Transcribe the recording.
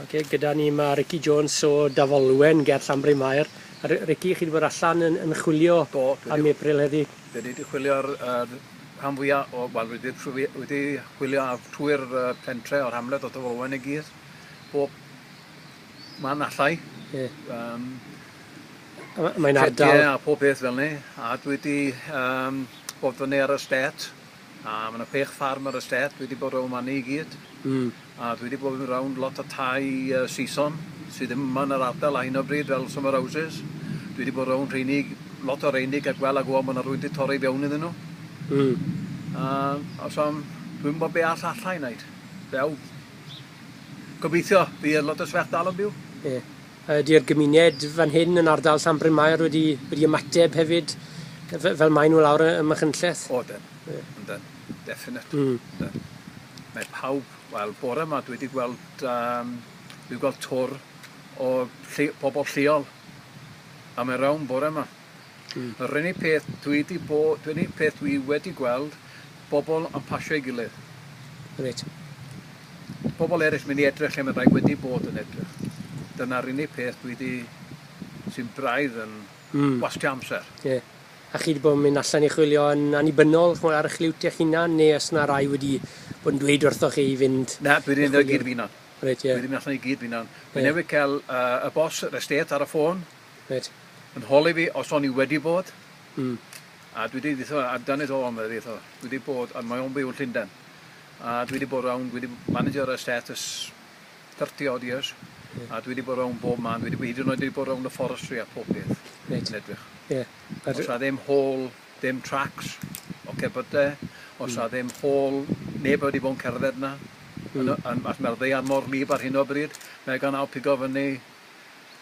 Ok, gyda ni mae Ricky Jones o Dafolwen ger Llanbryn Mair. Ricky, chi 'di bod allan yn yn chwilio Do, dwi 'di... am April heddi? Dwi 'di di chwilio ar yr rhan fwya o wel dwi 'di trwy dwi 'di chwilio ar trwy'r yy pentre o'r hamlet o Dafolwen i gyd. Bob man allai. Ie. Yym. A mae'n ardal... Ffitie a pob peth fel 'ny a dwi 'di yym bod fyny ar y stêt A ma' 'na chwech ffarm ar y stêt dwi 'di bod rown' fani i gyd. Hmm. A dwi 'di bod mynd rownd lot o tai yy Saeson sy ddim yma yn yr ardal ar hyn o bryd fel summer houses. Dwi 'di bod rownd rheiny lot o reiny ca'l gwel' a gwbo ma' 'na rwyd 'di torri fewn iddyn nw. Hmm. A a so m- dwi'm wbo be' all allai neud. Ddew. Gobeithio bydd lot o swerdalw'n byw. Ie. Ydy'r gymuned fan hyn yn ardal Llanbrynmair wedi wedi ymateb hefyd f- fel mae nhw lawr ym Machynlleth? O ydyn. Ie. Ydyn. Definitely. Mm. Ydyn. Mae pawb, wel bore ma dwi wedi gweld um, dwi wedi gweld twr o llu, pobl lleol am y rawn bore ma. Yr unig peth dwi 'di bo- yr unig peth dwi wedi gweld, bobl yn pasio'i gilydd. Reit. Pobl eraill mynd i edrych lle mae rhai wedi bod yn edrych. Dyna'r unig peth dwi 'di, sy'n braidd yn wastio amser. Ie. A chi 'di bod yn mynd allan i chwilio yn annibynnol, ch'mod, ar 'ych liwt eich hunan, neu oes 'na rai wedi bod yn dweud wrthoch chi i fynd... Na, dwi 'di mynd i gyd fy hunan. Reit, ie. Dwi 'di mynd allan i gyd fy hunan. Dwi newydd ca'l yy y boss yr estate ar y ffôn. Reit. Yn holi fi os o'n i wedi bod. Mm. A dwi 'di dditho ar dan it all medda fi tho. Dwi 'di bod a mae o'n byw yn Llundain. A dwi 'di bod rownd dwi 'di manager ar stet ers thirty odd years. Ie. A dwi 'di bod rownd bob man dwi 'di by- hyd yn oed wedi bod rownd y forestry a pob peth. Reit. Yn edrych. Ie. A dw- Os a ddim hall dim tracks o cebyde os Hmm. a ddim hall neb wedi bod yn cerdded 'na. Hmm. Yn y yn achos ma'r ddaear mor wlyb ar hyn o bryd mae o gan ail pigo fyny